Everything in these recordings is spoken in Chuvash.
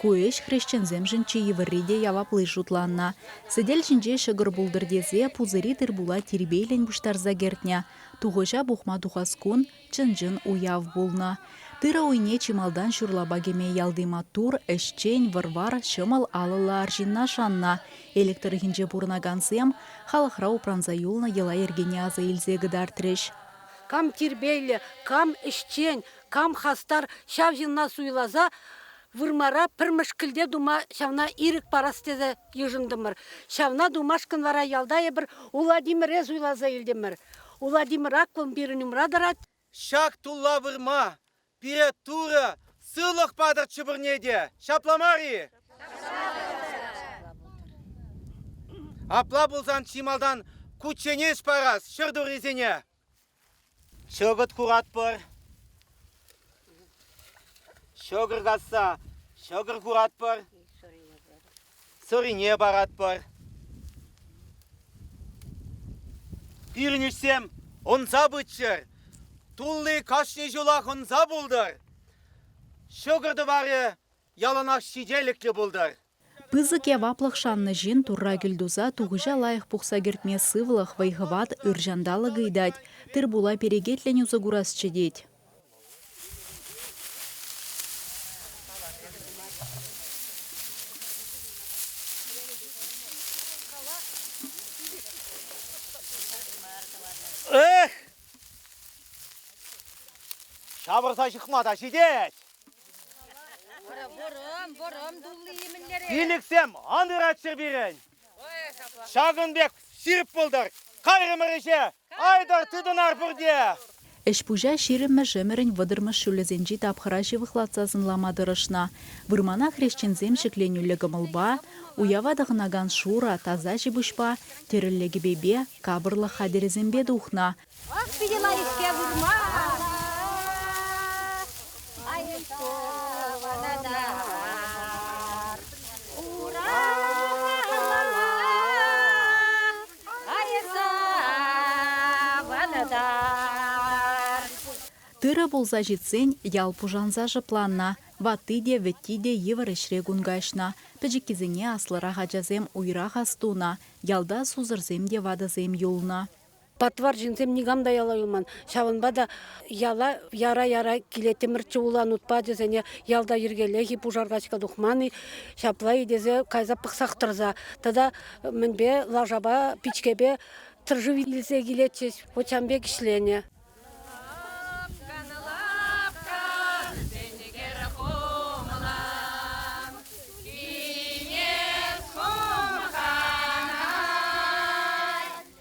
Ку ӗҫ хресченсемшӗн чи йывӑрри те явапли шутланнӑ. Сӗтел ҫинче ҫӑкӑр пултӑр тесе пусӑри тыр-пула тирпейлӗн пуҫтарса кӗртнӗ. Тухӑҫа пухма тухас кун, чӑн-чӑн уяв пулнӑ. Тырӑ уйне чи малтан ҫурлапа кӗме ялти маттур, ӗҫчен, вӑр-вар, ҫӑмӑл алӑллӑ арҫынна шаннӑ. Элӗк тӑрӑхӗнче пурӑнакансем халӑхра упранса юлнӑ йӑла-йӗркене аса илсе кӑтартрӗҫ. Кам тирпейлӗ, кам ӗҫчен, кам хастар ҫав ҫынна суйласа вырмара пӗр мӗшкӗлте тума ҫавна ирӗк парас тесе йышӑнтӑмӑр. Ҫавна тумашкӑн вара ялта эпир Уладимире суйласа илтӗмӗр. Уладимир Аккун пирӗн умра тӑрать. Ҫак тулла вырма пире Турӑ сывлӑх патӑр чӗпӗрне те. Ҫапла мар-и? Апла пулсан чи малтан кучченеҫ парас ҫӗр туррисене. Ҫӑкӑт хуратпӑр. Ҫӑкӑр касса ҫӑкӑр хуратпӑр. Сӑрине паратпӑр. Пирӗн ӗҫсем ӑнса пыччӑр. Тулли кашни ҫулах ӑнса пултӑр. Ҫӑкӑр тӑварӗ яланах ҫителӗклӗ пултӑр. Пысӑк яваплӑх шаннӑ ҫын Турра кӳлтуса тухӑҫа лайӑх пухса кӗртме сывлӑх, вӑй-хӑват, ыр ҫанталӑк ыйтать, тыр-пула перекетлӗн усӑ курасчӗ тет. Эх! Ҫавӑрса ҫыхма та ҫитет! Пилӗксем ан ыратчӑр пирӗн. Ҫакӑн пек ҫирӗп пултӑр. Кайрӑмӑр ӗҫе. Айтӑр тытӑнар пурте. Ӗҫ-пуҫа ҫирӗммӗш-ӗмӗрӗн вӑтӑрмӗш ҫулӗсенчи тапхӑра ҫывӑхлатса сӑнлама тӑрӑшнӑ. Вырмана хресченсем ҫӗкленӳллӗ кӑмӑлпа, уява тӑхӑнакан шурӑ, таса ҫипуҫпа, тӗрӗллӗ кӗпепе, капӑрлӑх хатӗрӗсемпе тухнӑ. Ах, питӗ мар-ҫке вырма. Айкӑванатар. Ура. Айсаванатар. Тырӑ пулса ҫитсен ял пушанса шӑпланнӑ. Ватти те, вӗтти те йывӑр ӗҫре кун каҫнӑ. Пӗчӗккисене аслӑрах ачасем уйрах ас тунӑ. Ялта сусӑрсем те ватӑсем юлнӑ. Патвар ҫынсем никам та яла юлман. Ҫавӑнпа та яла яра-яра килеттӗмӗрччӗ улан ут пачӗсене ялта йӗркеллех-и, пушар качка тухман-и, ҫапла-и тесе кайса пӑхсах тӑрса тата мӗнпе лашапа, пичкепе тыршу илсе килетчӗҫ. Вот ҫавӑн пек ӗҫленӗ.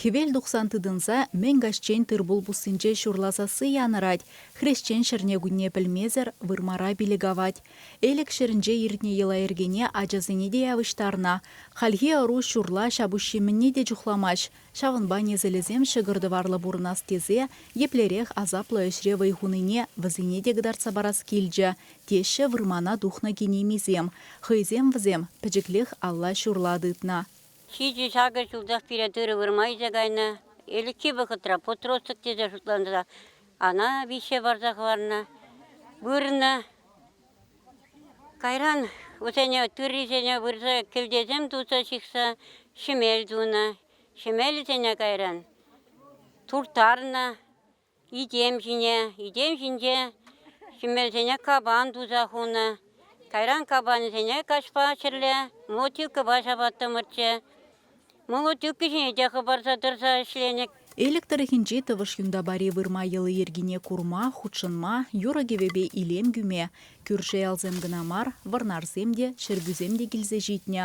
Хӗвел тухсан тытӑнса мӗн каҫчен тыр-пул пуссинче ҫурла сасси янӑрать, хресчен ҫӗрне-кунне пӗлмесӗр вырмара пилӗк авать. Элӗк ҫӗрӗнче иртнӗ йӑла-йӗркене ачасене те явӑҫтарнӑ. Хальхи ӑру ҫурла ҫапуҫҫи мӗнне те чухламасть, ҫавӑнпа несӗлӗсем ҫӑкӑр-тӑварлӑ пурӑнас тесе еплерех асаплӑ ӗҫре вӑй хунине вӗсене те кӑтартса парас килчӗ, теҫҫӗ вырмана тухнӑ кинемисем. Хӑйсем вӗсем пӗчӗклех алла ҫурла тытнӑ. Ҫичӗ-ҫакӑ ҫултах пире тырӑ вырма илсе кайнӑ. Ӗлӗкхи вӑхӑтра подросток тесе шутланса ана виҫе парса хӑварнӑ, вырнӑ. Кайран вӗсене тыррисене вырса кӗлтесем туса ҫыхса ҫӗмел тунӑ. Ҫӗмелӗсене кайран турттарнӑ. Итем ҫине, итем ҫинче ҫӗмӗрсене капан туса хунӑ. Кайран капанӗсене каҫпа ҫӗрле молотилкӑпа ҫапаттӑмӑрччӗ. Молотилка ҫине те хӑпарса тӑрса ӗҫленӗ. Элӗк тӑрӑхӗнчи Тӑвӑш Юнтапари вырма йӑли-йӗркине курма, хутшӑнма, юрӑ-кӗвӗпе илем кӳме кӳрши ялсем кӑна мар, вӑрнарсем те, чӗркӳсем те килсе ҫитнӗ.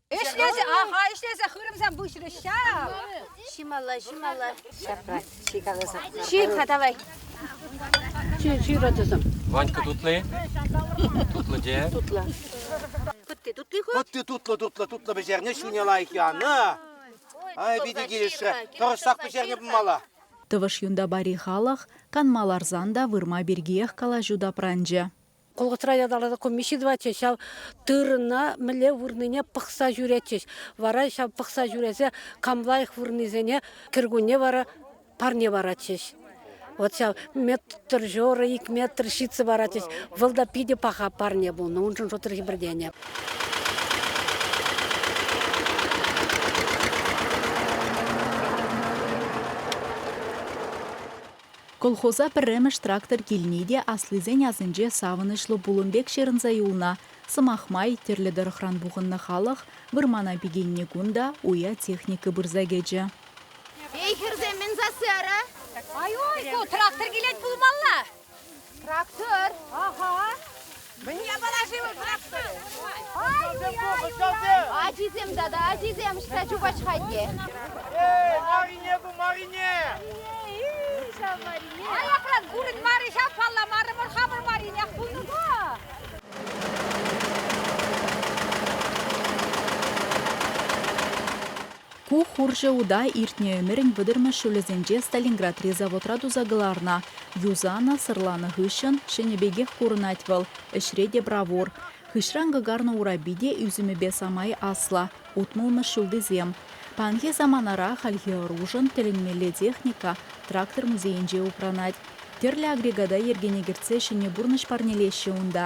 Ӗҫлесе, аха, ӗҫлесе хырӑмсем пуҫрӗҫ ҫав. Ҫималла, ҫималла. Ҫапла, чи каласа. Ҫир-ха давай. Чи, ҫирӗ тусӑм. Ванька тутлый? Тутлӑ те. Тутлӑ. Тутти, тутти ху. Тутти тутлӑ, тутлӑ, тутлӑ пӗҫерне ҫуне лайӑх янӑ. Ай, питӗ килӗшрӗ. Тӑрӑшсах пӗҫерме пымалла. Тӑвӑш юнта пари халӑх, канма ларсан та вырма пиркиех калаҫу тапранчӗ. Колхозра ятарласа комисси тӑватчӗҫ, ҫав тырӑна мӗнле вырнине пӑхса ҫӳретчӗҫ. Вара ҫав пӑхса ҫӳресе кам лайӑх вырнисене кӗркунне вара парне паратчӗҫ. Вот ҫав метр жора, ик метр ҫитсе паратчӗҫ. Вӑл та питӗ паха парне пулнӑ, уншӑн шутӑр хӗпӗртенӗ. Колхоза пӗрремӗш трактор килни те аслисен асӗнче савӑнӑҫлӑ пулӑм пек ҫырӑнса юлнӑ. Сӑмах май, тӗрлӗ тӑрӑхран пухӑннӑ халӑх вырмана пикеннӗ кун та уя техника пырса кӗчӗ. Эй, хӗрсем, мӗн сасси ара? Ай-ой, ку трактор килет пулмалла! Трактор? Аха. Мӗне парашивӑ пӑрахсан? Ачисем тата, ачисем ӑҫта чупать-ха те? Эй, Марине ту, Марине! Ит ҫав Марине! Аякран курӑн мар-и ҫав палламарӑ вӑл хамӑр Маринех пулнӑ-ку? Ку хурҫӑ ута иртнӗ ӗмӗрӗн вӑтӑрмӗш ҫулӗсенче Сталинградри заводра туса кӑларнӑ. Юсанӑ, сӑрланӑ хыҫҫӑн ҫӗнӗ пекех курӑнать вӑл, ӗҫре те бравур. Хыҫран кӑкарнӑ урапи те ӳсӗмӗпе самай аслӑ, утмӑлмӗш ҫултисем. Паянхи саманара хальхи ӑрушӑн тӗлӗнмелле техника Трактор музейӗнче упранать. Тӗрлӗ агрегата йӗркене кӗртсе ҫӗнӗ пурнӑҫ парнелеҫҫӗ унта.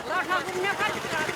Лаша умне каҫран.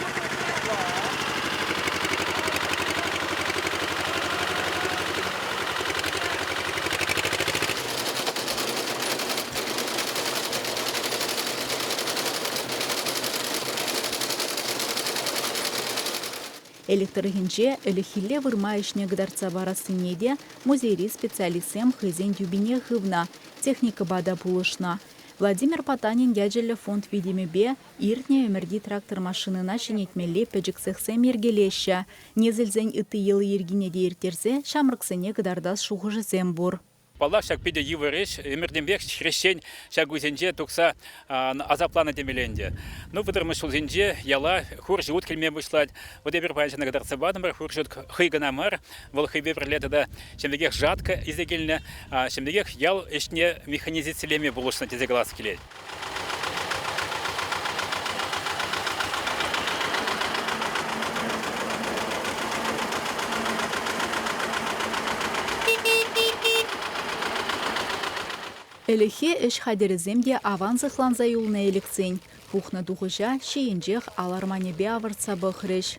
Элӗк тӑрӑхӗнче ӗлӗкхилле вырма ӗҫне кӑтартса парассине те музейри специалистсем хӑйсен тӳпине хывнӑ, техникӑпа та пулӑшнӑ. Владимир Потанин ячӗллӗ фонд витӗмӗпе иртнӗ ӗмӗрти трактор-машинӑна ҫӗнетмелли пӗчӗк цехсем йӗркелеҫҫӗ. Несӗлсен ытти йӑли-йӗркине те ирттерсе ҫамрӑксене кӑтартас шухӑшӗсем пур. Паллах, ҫак питӗ йывӑр ӗҫ. Ӗмӗртенпех хресчен ҫак уйсенче тухса асапланӑ темелле ӗнтӗ. Ну, вӑтӑрмӗш ҫулсенче яла хур ҫут килме пуҫлать. Вӑт эпир паян ҫакна кӑтартса патӑмӑр, хур ҫут хӑй кӑна мар, Вӑл хӑйпе пӗрле тата ҫӗмӗрӗкех жатка илсе килнӗ, ҫӗмӗрӗкех ял ӗҫне механизацилеме пулӑшнӑ тесе калас килет. Ӗлӗкхи ӗҫ хатӗрӗсем те аван сыхланса юлнӑ элӗксен. Пухнӑ тухӑҫа ҫийӗнчех ал арманӗпе авӑртса пӑхрӗҫ.